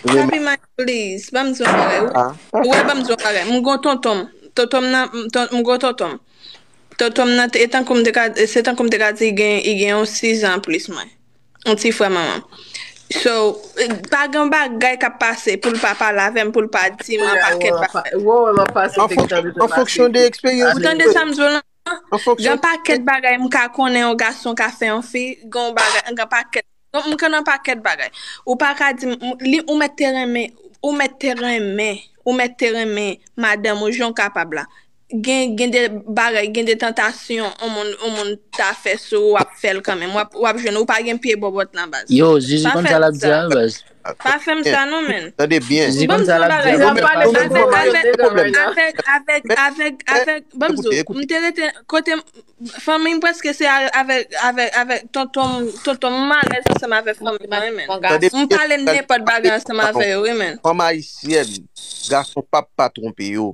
Papi Mike please banm di yon bagay ou wè banm di yon bagay m gon tontonm tontonm nan m gon tontonm tontonm nan e tankou m te ka se tankou m te ka di i gen i gen yon 6 ans plis mwen yon ti frè manmanm so pa gen yon bagay kap pase poul pa pale avèm poul pa dim yon pakèt bagay an fonksyon de eksperyans li ou tande sa m di w lan. Gen pakèt bagay m ka konnen yon gason ka fè yon fi, gen yon bagay, gen pakèt, m konnen pakèt bagay. Ou pa ka di m, li, ou mèt te renmen, ou mèt te renmen, ou mèt te renmen madanm ou jan w kapab la. Gen, gen de bagay, gen de tantasyon yon moun, yon moun ta fè sou ou, w ap fè l kanmenm. W ap, w ap jwenn, ou pa gen pye bòbòt nan baz. Yo, Jezi konn sa l ap di a nan baz. Pa fè m sa non menn. Tande byen. Ou banm di yon bagay. Zam pa ale nan gwo mayo nèga right now. Avèk, avèk, avèk, avèk, banm di w, m te rete kote m, fanmi m prèske se avèk, avèk, avèk tonton m, tonton m, m alèz ansanm avèk fanmi mwen wi menn. M pale nenpòt bagay ansanm avè yo wi menn. Fanm ayisyèn, gason pap pa twonpe yo.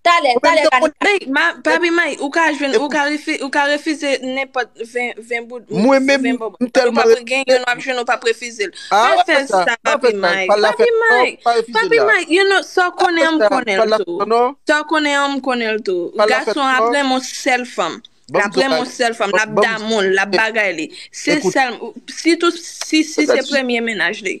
Talè, talè pa n ka. Papi Mike, ou ka jwenn, ou ka refize nenpòt 20 bout, 20 bob. Ou pa pre gen yon wap jwenn ou pa prefize l. Pa fè sa papi Mike. Papi Mike, papi Mike, you know, sa w konnen an m konnen l tou. Sa w konnen an m konnen l tou. Gason ap renmen yon sèl fanm. L ap renmen yon sèl fanm. L ap damou l, l ap bagay li. Se sèl, sitou si se premye menaj li.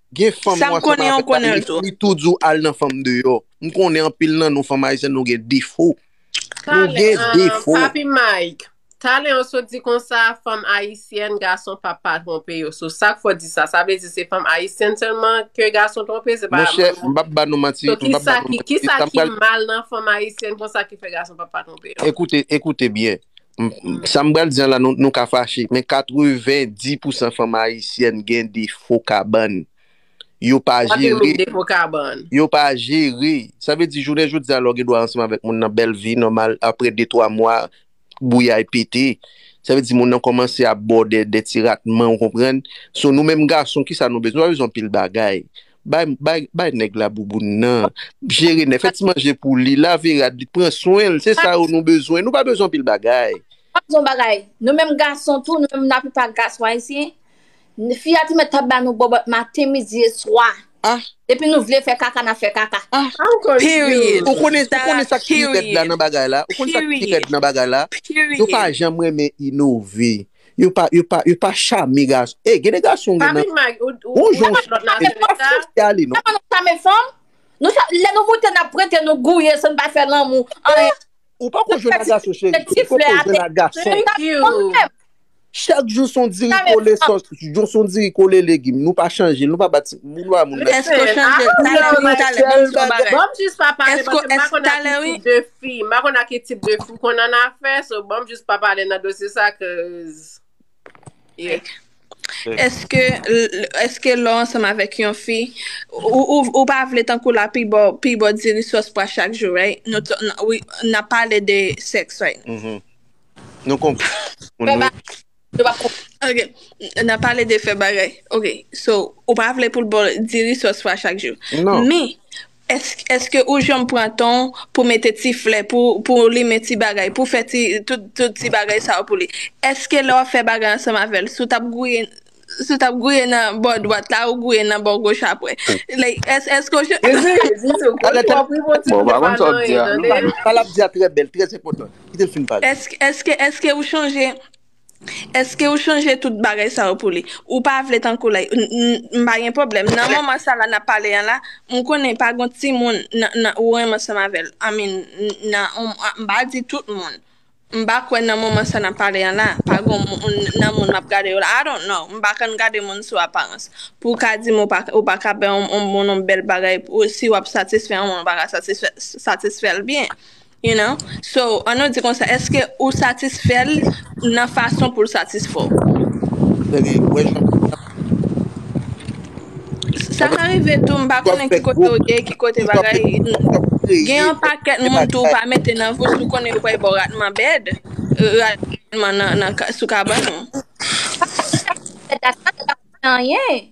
Gen fanm Sam mwen konnen ansanm ou avèl la konnen l li, tou. li tou di w al nan fanm deyò. M konnen anpil nan nou fanm ayisyèn nou gen defo. Nou Talen, gen ahh, defo. Papi Mike, talen an sot di konsa fanm ayisyèn gason pap pa twonpe yo. So sak fè w di sa? Sa vle di se fanm ayisyèn sèlman ke gason twonpe? Se pa Monchè, m pap ba nou manti, So m pap ba kisa nou ki, manti. kisa Sa m ki pral mal nan fanm ayisyèn konsa ki fè gason pap pa twonpe yo? Ekoute, ekoute byen. Sa m pral di an la nou ka fache, men 90 pousan fanm ayisyèn gen defo kabann. Yo pa jere. Yo pa jere. Sa vle di jounen jodi a lè w gen dwa ansanm avèk moun nan bèl vi nòmal aprè de twa mwa bouyay pete. Sa vle di moun nan kòmanse ap ba w de ti ratman ou konprann. So nou menm gason kisa nou bezwen? Nou pa bezwen anpil bagay. Bay bay bay nèg la bouboun nan. Jere nèg, fè ti manje pou li, lave rad li, pran swen l. Se sa yo nou bezwen. Nou pa bezwen anpil bagay. Mwen ap di w yon bagay, nou menm gason tou, nou menm laplipa gason ayisyen, fi a te mèt ap ba nou bòbòt maten, midi e swa. Ah! Depi nou vle fè kaka, n ap fè kaka. Ah! How could you? Period. Ou konnen, ou Sarah, konnen sa k pi rèd la period. nan bagay la? Ou konnen sa k pi rèd Period. nan bagay la? Nou pa Period. janm renmen inove. Yo pa yo pa yo pa chame gason ey gen de gason gen nan gon jan ou chame yo pa fòse ale non. Kòman nou chame fanm? Nou cha lè nou moute nap prente nou gouye san nou pa fè lanmou anyen. Ou pako jwenn ak gason cheri ou poko jwenn ak gason. Chak jou son diri kole sòs jou son diri kole legim nou pa chanje nou pa bat moun pa moun nan. Èske w chanje talè wi ou talè banm di w yon bagay èske w èske talè wi. Fi, m pa konn a ki tip de fi w konn an afè, so banm jis pa pale nan dosye sa cuz yeah. Eske eske lè w ansanm avèk yon fi ou pa vle tankou la pi baw pi baw diri sòs pwa chak jou right nou t wi nap pale de sex right now. Nou konprann moun wi. Yo pa konprann. Ok, n ap pale de fè bagay. Ok, so, ou pa vle pou l ba w diri sòs fwa chak jou. Non. Men, èske ou janm pran tan w pou mete ti flè, pou w limen ti bagay, pou w fè tout ti bagay sa yo pou li? Èske lè w ap fè bagay ansanm avè l, si w t ap gouye, si w t ap gouye nan bò dwat la, ou gouye nan bò goch apre? Like, èske ou janm. Jezi, Jezi, ou konn twòp wi, Bondye m te pa nan anyen tande. Sa l ap di a trè bèl, trè enpòtan. Kite l fin pale. Eske, eske, eske ou chanje, eske ou chanje tout bagay sa yo pou li? Ou pa vle tankou lè, n, n, m pa gen pwoblèm. Nan moman sa la n ap pale an la, m konnen pa gon timoun nan, nan, ou renmen ansanm avè l. I mean, nan, m, m pa di tout moun. M pa kwè nan moman sa n ap pale an la, pa gon moun, nan moun m ap gade yo la. I don't know. M pa konn gade moun sou aparans. Pou w ka di m ou pa, ou pa ka bay yon moun yon bèl bagay, si w ap satisfè yon moun ou pa ka satisfè, satisfè l byen. You know, so an nou di konsa eske ou satisfèl nan fason poul satisfèw? Sèvi wè jan pou sa. Sa ka rive tou m pa konnen ki kote ou ye, ki kote bagay, gen yon pakèt moun tou ou pa mete nan vouch ou konnen yo pral baw ratman bed, ratman nan sou kabann ou. Sa pa fè dat sa, sa pa fè anyen.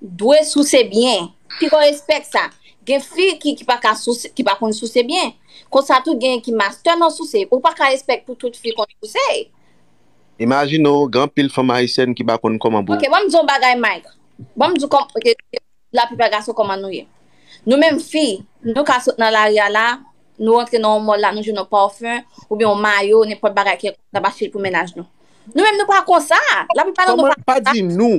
Dwe souse byen. Pi gwo respè k sa. Gen fi ki ki pa ka souse, ki pa konn souse byen. Konsa tou genyen ki mastè nan souse. Ou pa ka respè k pou tout fi konn souse. Imajine w, gen anpil fanm ayisyèn ki pa konn kòman pou. Ok, ban m di w yon bagay Mike. Ban m di w kòm, ok, la plipa gason kòman nou ye. Nou menm fi, nou ka sot nan lari a la, nou rantre nan yon mòl la, nou jwenn yon parfum, oubyen yon mayo, nenpòt bagay kèlkonk, n ap achte l pou mennaj nou. Nou menm nou pa konsa. La plipa nan nou pa konsa. Pa di nou.